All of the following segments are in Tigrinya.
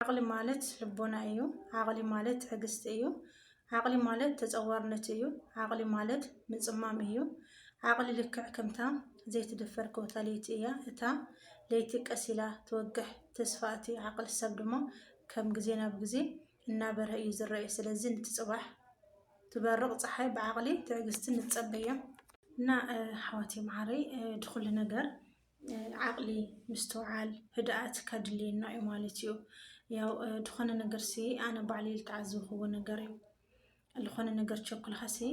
ዓቕሊ ማለት ልቦና እዩ። ዓቕሊ ማለት ትዕግስቲ እዩ። ዓቕሊ ማለት ተጸዋርነት እዩ። ዓቕሊ ማለት ምጽማም እዩ። ዓቕሊ ልክዕ ከምታ ዘይትድፈር ኮታ ለይቲ እያ። እታ ለይቲ ቀስ ኢላ ትወግሕ። ተስፋ እቲ ዓቕሊ ሰብ ድማ ከም ግዜ ናብ ግዜ እናበርሀ እዩ ዝረኤ። ስለዚ ንቲ ጽባሕ ትበርቕ ጸሓይ ብዓቕሊ ትዕግስቲ ንጸበያ። እና ኣሕዋተይ መዓረይ ድኹሉ ነገር ዓቕሊ ምስትውዓል ህድኣት ከድልየና እዩ ማለት እዩ ያው ዝኾነ ነገር ሲ ኣነ ባዕሊ ዝተዓዘብክዎ ነገር እዩ ዝኾነ ነገር ቸኩልካ ሲ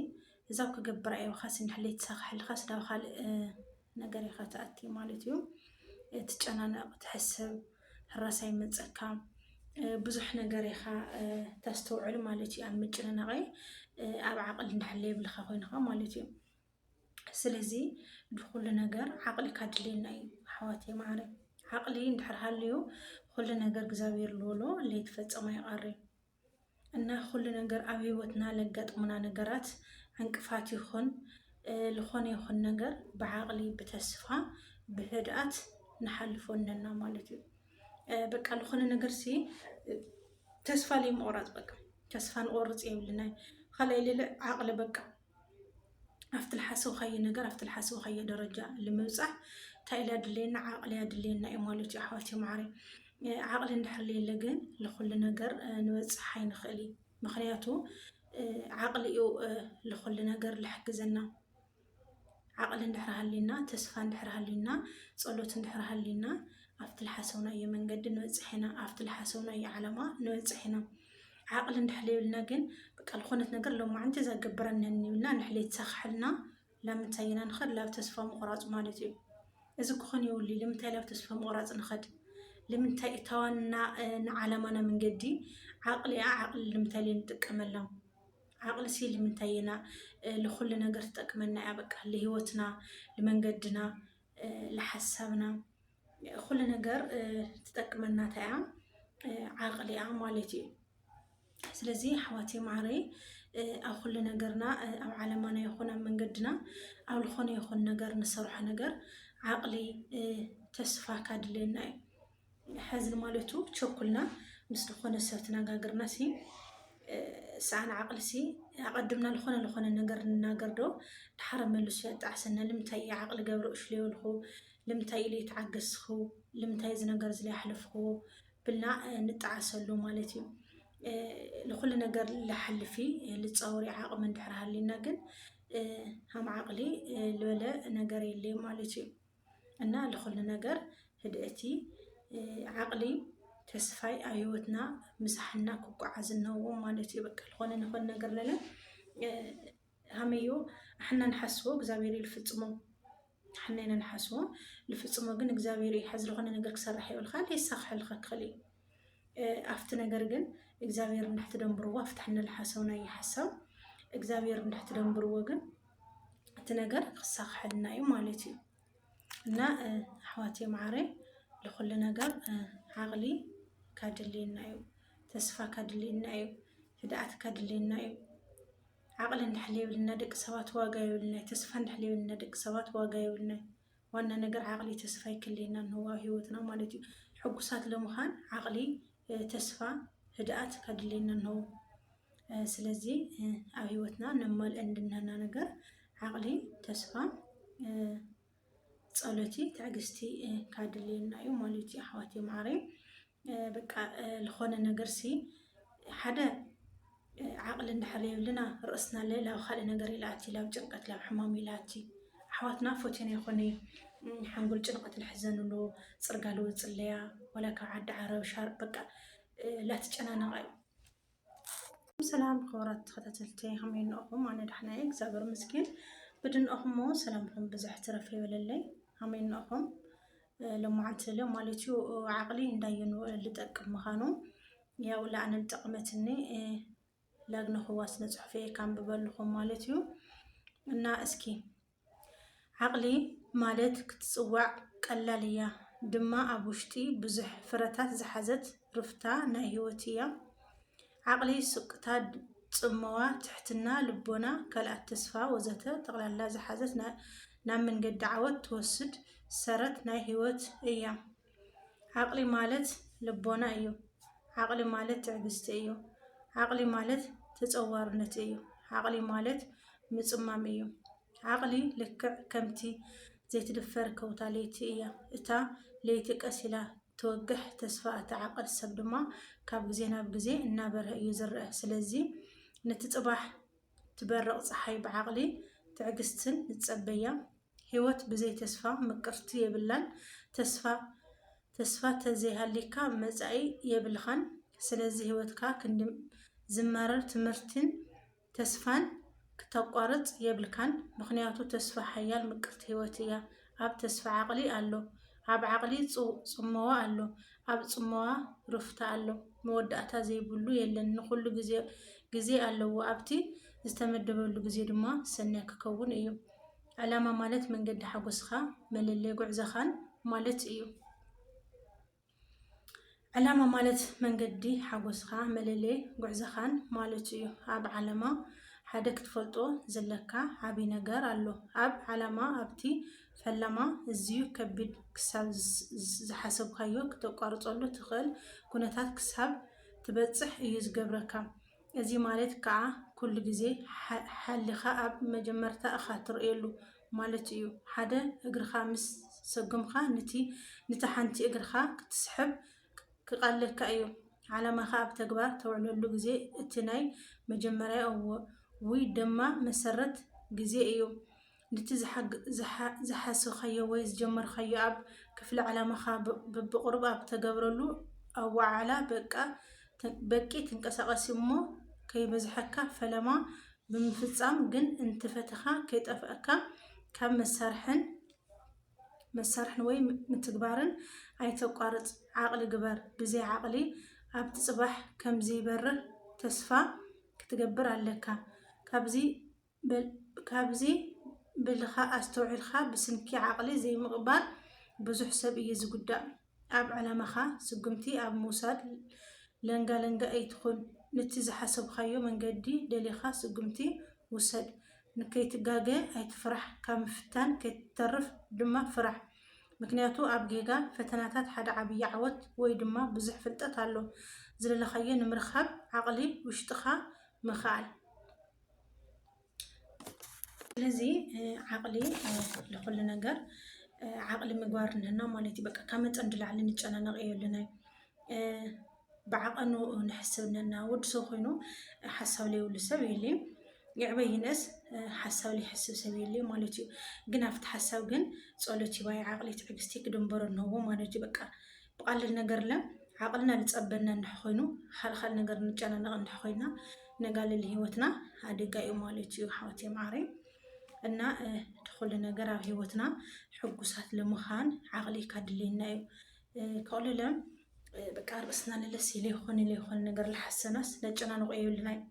እዛብ ክገብር ኣየውካስ እንድሕለይ ተሳካሕልካስ ናብ ካልእ ነገር ኢኻ ትኣቲ ማለት እዩ ትጨናነቕ ትሕስብ ሕራሳ ይመፀካ ብዙሕ ነገር ኢኻ ተስተውዕል ማለት እዩ ኣብ ምጭንናቐ ኣብ ዓቕል እንድሕለይ የብልካ ኮይንኻ ማለት እዩ ስለዚ ንኩሉ ነገር ዓቕሊ ካድልየና እዩ ኣሕዋተይ ማዓረይ ዓቕሊ እንድሕር ሃልዩ ኩሉ ነገር እግዚኣብሔር ልበሎ ለይትፈጸም ኣይቐርይ እና ኩሉ ነገር ኣብ ህይወትና ለጋጥሙና ነገራት ዕንቅፋት ይኹን ዝኾነ ይኹን ነገር ብዓቕሊ ብተስፋ ብህድኣት ንሓልፎ ኣለና ማለት እዩ በቃ ዝኾነ ነገር ሲ ተስፋ ለይምቑራፅ በቃ ተስፋ ንቆርፅ የብልና ካልኣይ ልለ ዓቕሊ በቃ ኣብቲ ልሓሰብካዮ ነገር ኣብቲ ልሓሰብካዮ ደረጃ ልምብፃሕ እንታይ ኢሉ ኣድለየና ዓቕሊ ኣድለየና እዩ ማለት እዩ ኣሕዋት ማዓሪ ዓቕሊ እንድሕርለየለ ግን ልኩሉ ነገር ንበፅሕ ኣይንኽእል እዩ ምክንያቱ ዓቕሊ እዩ ልኩሉ ነገር ልሕግዘና ዓቕሊ እንድሕር ሃልዩና፣ ተስፋ እንድሕር ሃልዩና፣ ጸሎት እንድሕር ሃልዩና፣ ኣብቲ ልሓሰብናዮ መንገዲ ንበጽሕ ኢና፣ ኣብቲ ልሓሰብናዮ ዓላማ ንበጽሕ ኢና። ዓቕሊ እንድሕር ለይብልና ግን በቃ ልኾነት ነገር ሎማዕንቲ እዛ ገብረነኒ ኢልና እንድሕር ለይተሳኽሐልና ላብ ምንታይ ኢና ንኸድ? ላብ ተስፋ ምቑራጽ ማለት እዩ። እዚ ክኾን የብሉይ። ልምንታይ ላብ ተስፋ ምቑራጽ ንኸድ? ልምንታይ እታዋንና ንዓላማና መንገዲ ዓቕሊኣ ዓቕሊ ልምንታይ ለይንጥቀመላ? ዓቕሊ ሲ ልምንታይ የና ልኹሉ ነገር ትጠቅመና እያ በቃ ልህይወትና ልመንገድና ልሓሳብና ኩሉ ነገር ትጠቅመና እንታይ እያ ዓቕሊ እያ ማለት እዩ ስለዚ ኣሕዋተይ ማዕረይ ኣብ ኩሉ ነገርና ኣብ ዓለማና ይኹን ኣብ መንገድና ኣብ ዝኾነ ይኹን ነገር ንሰርሖ ነገር ዓቕሊ ተስፋ ካድልየና እዩ ሐዝን ማለቱ ቸኩልና ምስ ዝኾነ ሰብ ትነጋግርና ሲ ሰኣን ዓቅሊ ሲ ኣቀድምና ዝኾነ ዝኾነ ነገር ንናገር ዶ ድሓረ መልሱ የጣዕሰና ልምንታይ እየ ዓቅሊ ገብረ እሽለ የብልኹ ልምንታይ ኢለ ይተዓገስኹ ልምንታይ እዚ ነገር እዚ ኣሕለፍኹዎ ብልና ንጣዓሰሉ ማለት እዩ ንኩሉ ነገር ልሓልፊ ልፃወሪ ዓቕሚ እንድሕር ሃልዩና ግን ሃም ዓቕሊ ልበለ ነገር የለይ ማለት እዩ። እና ለኹሉ ነገር ህድእቲ ዓቕሊ ተስፋይ ኣብ ህይወትና ምሳሕና ክጓዓዝ እነዎም ማለት እዩ በቃ ለኾነ ንኾን ነገር ለለ ሃመዮ ኣሕና ንሓስቦ እግዚኣብሔር እዩ ልፍፅሞ ሓና ኢና ንሓስቦ ልፍፅሞ ግን እግዚኣብሔር እዩ ሓዚ ለኾነ ነገር ክሰርሕ የብልካ የሳኽሐልካ ክኽእል እዩ ኣብቲ ነገር ግን እግዚኣብሔር እንድሕ ትደንብርዎ ኣብቲ ንልሓሰው ናይ ሓሳው እግዚኣብሔር እንድሕ ትደንብርዎ ግን እቲ ነገር ክሳክሐልና እዩ ማለት እዩ እና ኣሕዋት የማዓረ ለኩሉ ነገር ዓቅሊ ካድልየና እዩ ተስፋ ካድልየና እዩ ህድኣት ካድልየና እዩ ዓቅሊ እንድሕለየብልና ደቂ ሰባት ዋጋ የብልና ተስፋ እንድሕለየብልና ደቂ ሰባት ዋጋ የብልና ዋና ነገር ዓቕሊ ተስፋ ይክልየና ንህዋዊ ህይወትና ማለት እዩ ሕጉሳት ለምዃን ዓቕሊ ተስፋ ህድኣት ከድልየና ንህው ስለዚ ኣብ ህይወትና ነማልእ እንድናና ነገር ዓቕሊ ተስፋ ጸሎቲ ትዕግስቲ ካድልየና እዩ ማለት እዩ ኣሕዋት የማዕረይ በቃ ልኾነ ነገርሲ ሓደ ዓቕሊ እንድሕር የብልና ርእስና ለ ላብ ካልእ ነገር እዩ ልኣቲ ላብ ጭንቀት ላብ ሕማም እዩ ልኣቲ ኣሕዋትና ፎትዮና ይኾነ እዩ ሓንጎል ጭንቐት ልሕዘንሉ ፅርጋ ልወፅለያ ዋላ ካብ ዓዲ ዓረብ ሻር በቃ ላትጨናነቓ እዩ ሰላም ክቡራት ተኸታተልቲ ከመይ እንኦኹም? ኣነ ዳሕና እየ እግዚኣብሔር ይመስገን። ብድንኦኹም እሞ ሰላምኹም ብዝሕ ትረፍ ይበለለይ። ከመይ እንኦኹም? ሎማዓንቲ ለ ማለት እዩ ዓቕሊ እንዳየኑ ልጠቅም ምዃኑ ያው ለኣነ ጠቕመትኒ ላግነኹዋ ስነ ጽሑፍ እየ ካንብበልኹም ማለት እዩ እና እስኪ ዓቕሊ ማለት ክትጽዋዕ ቀላል እያ ድማ ኣብ ውሽጢ ብዙሕ ፍረታት ዝሓዘት ሩፍታ ናይ ህይወት እያ። ዓቕሊ ሱቅታ ጽመዋ ትሕትና ልቦና ካልኣት ተስፋ ወዘተ ጠቕላላ ዝሓዘት ናብ መንገዲ ዓወት ትወስድ ሰረት ናይ ህይወት እያ። ዓቕሊ ማለት ልቦና እዩ። ዓቕሊ ማለት ትዕግስቲ እዩ። ዓቕሊ ማለት ተፀዋርነት እዩ። ዓቕሊ ማለት ምፅማም እዩ። ዓቕሊ ልክዕ ከምቲ ዘይትድፈር ከውታ ለይቲ እያ። እታ ለይቲ ቀስ ኢላ ትወግሕ፣ ተስፋ እቲ ዓቐል ሰብ ድማ ካብ ግዜ ናብ ግዜ እናበርሀ እዩ ዝረአ። ስለዚ ነቲ ፅባሕ ትበርቕ ጸሓይ ብዓቕሊ ትዕግስትን ንጸበያ ሂወት ብዘይ ተስፋ ምቅርቲ የብላን ተስፋ ተስፋ ተዘይሃልይካ መጻኢ የብልኻን ስለዚ ሂወትካ ክንዲ ዝመረር ትምህርቲን ተስፋን ክተቋርጽ የብልካን ምኽንያቱ ተስፋ ሓያል ምቅርቲ ሂወት እያ ኣብ ተስፋ ዓቕሊ ኣሎ ኣብ ዓቕሊ ጽመዋ ኣሎ ኣብ ጽመዋ ሩፍታ ኣሎ መወዳእታ ዘይብሉ የለን ንኹሉ ግዜ ግዜ ኣለዎ ኣብቲ ዝተመደበሉ ግዜ ድማ ሰናይ ክከውን እዩ ዕላማ ማለት መንገዲ ሓጎስኻ መለለይ ጉዕዘኻን ማለት እዩ። ዕላማ ማለት መንገዲ ሓጎስኻ መለለዪ ጉዕዞኻን ማለቱ እዩ። ኣብ ዓለማ ሓደ ክትፈልጦ ዘለካ ዓብይ ነገር ኣሎ። ኣብ ዓላማ ኣብቲ ፈላማ እዝዩ ከቢድ ክሳብ ዝሓሰብካዮ ክተቋርፀሉ ትኽእል ኩነታት ክሳብ ትበፅሕ እዩ ዝገብረካ። እዚ ማለት ክዓ ኩሉ ግዜ ሓሊኻ ኣብ መጀመርታ እኻ ትርእየሉ። ማለት እዩ ሓደ እግርኻ ምስ ሰጉምካ ንቲ ንቲ ሓንቲ እግርኻ ክትስሕብ ክቃለካ እዩ ዓላማኻ ኣብ ተግባር ተውዕለሉ ግዜ እቲ ናይ መጀመርያ እው ውይ ደማ መሰረት ግዜ እዩ ንቲ ዝሓስብካዮ ወይ ዝጀመርካዮ ኣብ ክፍሊ ዓላማኻ ብብቅሩብ ኣብ ተገብረሉ ኣዋዓዕላ በቃ በቂ ትንቀሳቀስ እሞ ከይበዝሐካ ፈለማ ብምፍፃም ግን እንትፈተኻ ከይጠፍእካ ካብ መሳርሕን መሳርሕን ወይ ምትግባርን ኣይተቋርፅ ዓቅሊ ግበር ብዘይ ዓቅሊ ኣብቲ ፅባሕ ከምዝይበርህ ተስፋ ክትገብር ኣለካ ካብዚ ካብዚ ብልካ ኣስተውዒልካ ብስንኪ ዓቅሊ ዘይምቅባል ብዙሕ ሰብ እዩ ዝጉዳእ ኣብ ዕላማካ ስጉምቲ ኣብ ምውሳድ ለንጋለንጋ ኣይትኩን ንቲ ዝሓሰብካዮ መንገዲ ደሊካ ስጉምቲ ውሰድ ንከይትጋገ ኣይትፍራሕ ካብ ምፍታን ከይትተርፍ ድማ ፍራሕ ምክንያቱ ኣብ ጌጋ ፈተናታት ሓደ ዓብይ ዓወት ወይ ድማ ብዙሕ ፍልጠት ኣሎ ዝደለካዮ ንምርካብ ዓቅሊ ውሽጥካ ምክኣል ስለዚ ዓቕሊ ንኩሉ ነገር ዓቕሊ ምግባር እነሀና ማለት እዩ። በቃ ካብ መጠን ንላዕሊ ንጨናነቕ የብልናይ ብዓቐኑ ንሕስብ እነና ወዲ ሰብ ኮይኑ ሓሳብ ዘይብሉ ሰብ የልዩ ይዕበይ ይንእስ ሓሳብ ዘይሕስብ ሰብ የልዩ ማለት እዩ። ግን ኣብቲ ሓሳብ ግን ፀሎት ይባይ ዓቕሊ ትዕግስቲ ክድንበሮ ኣለዎ ማለት እዩ በቃ ብቐሊል ነገር ለ ዓቕልና ልፀበና እንተኾይኑ ኻልኻል ነገር ንጨናነቕ እንተኾይና ነጋልል ህይወትና ኣደጋ እዩ ማለት እዩ ሓወት የምዓረ እና ትኹሉ ነገር ኣብ ህይወትና ሕጉሳት ለምዃን ዓቕሊ ካድልየና እዩ ከቕልለ በቃ ርእስና ንለሲ ለይኾነ ለይኾነ ነገር ልሓሰናስ ነጨናንቆ የብልና እዩ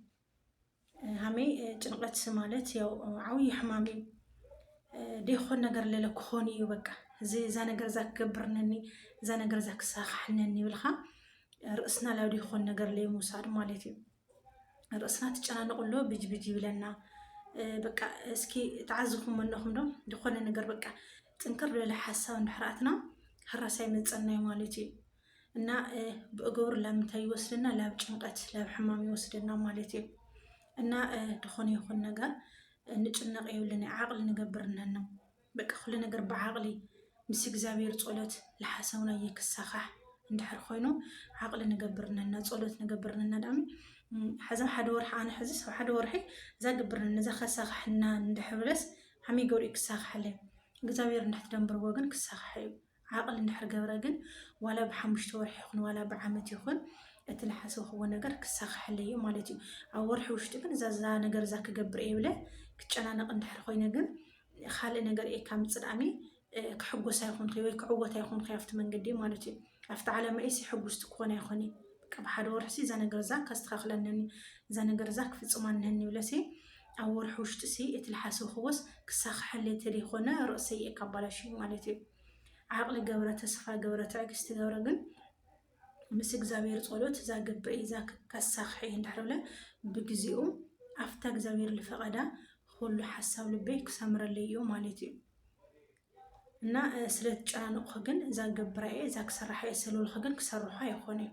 ሃመይ ጭንቀት ማለት ያው ዓብዩ ሕማም እዩ ደይኮን ነገር ለለ ክኾን እዩ በቃ እዛ ነገር እዛ ክገብርነኒ እዛ ነገር እዛ ክሳኻሕነኒ ይብልካ ርእስና ላብ ደይኮን ነገር ለይ ምውሳድ ማለት እዩ ርእስና ትጨናነቁ ኣሎ ብጅብጅ ይብለና በቃ እስኪ ተዓዝኹም ኣለኹም ዶ ዝኾነ ነገር በቃ ጥንክር ለለ ሓሳብ እንድሕራትና ህራሳይ መፀናይ ማለት እዩ እና ብእግብር ላብ ምንታይ ይወስደና? ላብ ጭንቀት ላብ ሕማም ይወስደና ማለት እዩ። እና ድኾነ ይኹን ነገር ንጭነቕ የብልን ዓቕሊ ንገብር እነና በቃ ኩሉ ነገር ብዓቕሊ ምስ እግዚኣብሔር ጸሎት ለሓሰውናየ ክሳኻሕ እንድሕር ኮይኑ ዓቕሊ ንገብር እነና ጸሎት ንገብር እነና ዳኣሚ ሓዛ ሓደ ወርሒ ኣነ ሕዚ ሰብ ሓደ ወርሒ እዛ ግብር ነዛ ከሳኻሕና እንድሕር ብለስ ሓመይ ገሩ ክሳኻሕለይ እግዚኣብሔር እንድሕትደንብርዎ ግን ክሳኻሕ እዩ ዓቕሊ እንድሕር ገብረ ግን ዋላ ብሓሙሽተ ወርሒ ይኹን ዋላ ብዓመት ይኹን እቲ ልሓሰብክዎ ነገር ክሳኸሐለይ እዩ ማለት እዩ። ኣብ ወርሒ ውሽጢ ግን እዛ እዛ ነገር እዛ ክገብር እየ ብለ ክጨናነቕ እንድሕር ኮይነ ግን ካልእ ነገር እየ ካብ ምጽዳሚ ክሕጎስ ኣይኮንኩ ወይ ክዕወት ኣይኮንኩ ኣብቲ መንገዲ ማለት እዩ። ኣብቲ ዓላማ እየሲ ሕጉስቲ ክኾን ኣይኮን እየ። ብሓደ ወርሒሲ እዛ ነገር እዛ ከስተኻኽለነኒ እዛ ነገር እዛ ክፍጽማ ነኒ ብለሲ ኣብ ወርሒ ውሽጢሲ እቲ ልሓሰብኽዎስ ክሳኽሐለይ ተደይኮነ ርእሰይ እየ ካባላሽዩ ማለት እዩ ዓቅሊ ገብረ ተስፋ ገብረ ትዕግስቲ ገብረ ግን ምስ እግዚኣብሔር ጸሎት ዛግብር እየ ዛክብ ከሳኽሐ እየ እንድሕር ብለ ብግዚኡ ኣፍታ እግዚኣብሔር ልፈቀዳ ኹሉ ሓሳብ ልበይ ክሰምረለይ እዩ ማለት እዩ እና ስለትጨናነቅኹ ግን ዛገብራ እየ ዛክሰራሓ እየ ሰልበልኹ ግን ክሰርሖ ኣይኾነ እዩ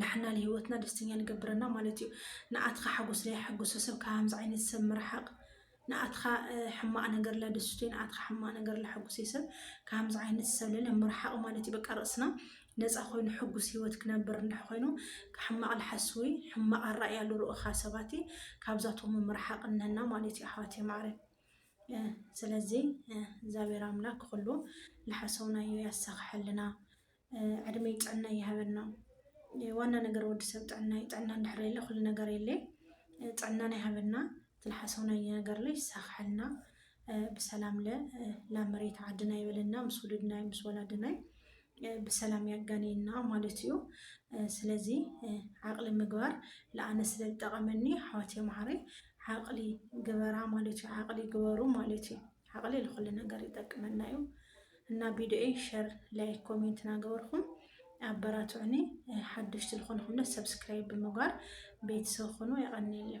ንሕና ንህይወትና ደስተኛ ንገብረና ማለት እዩ። ንኣትኻ ሓጎስ ለየሐጉሶ ሰብ ካብዚ ዓይነት ሰብ ምርሓቕ ንኣትኻ ሕማቕ ነገር ለደስቶ ንኣትኻ ሕማቕ ነገር ለሐጉሶ ሰብ ካብዚ ዓይነት ሰብ ለለ ምርሓቕ ማለት እዩ። በቃ ርእስና ነፃ ኮይኑ ሕጉስ ህይወት ክነብር እንድሕ ኮይኑ ሕማቕ ልሓስዊ ሕማቕ ኣራእያ ልርእኻ ሰባት ካብዛቶም ምርሓቕ እነና ማለት እዩ ኣሕዋት ማዕረ ስለዚ እግዚኣብሔር ኣምላክ ኩሉ ልሓሰውናዮ ያሳኽሐልና። ዕድመይ ጥዕናይ ይሃበና ዋና ነገር ወዲ ሰብ ጥዕና እዩ ጥዕና እንድሕር የለ ኩሉ ነገር የለ ጥዕናና ይሃበና ትልሓሰውና ነገር ላይ ይሳኽሐልና ብሰላም ለ ናብ መሬት ዓድና ይበለና ምስ ውሉድናይ ምስ ወላድናይ ብሰላም ያጋንየና ማለት እዩ ስለዚ ዓቕሊ ምግባር ለኣነ ስለ ዝጠቐመኒ ሓዋት የምሃረይ ዓቕሊ ግበራ ማለት እዩ ዓቕሊ ግበሩ ማለት እዩ ዓቕሊ ልኹሉ ነገር ይጠቅመና እዩ እና ቢድኦይ ሸር ላይክ ኮሜንት ናገበርኹም ኣበራትዑኒ ሓደሽቲ ዝኾንኹም ደ ሰብስክራይብ ብምግባር ቤተሰብ ኹኑ የቐንየለይ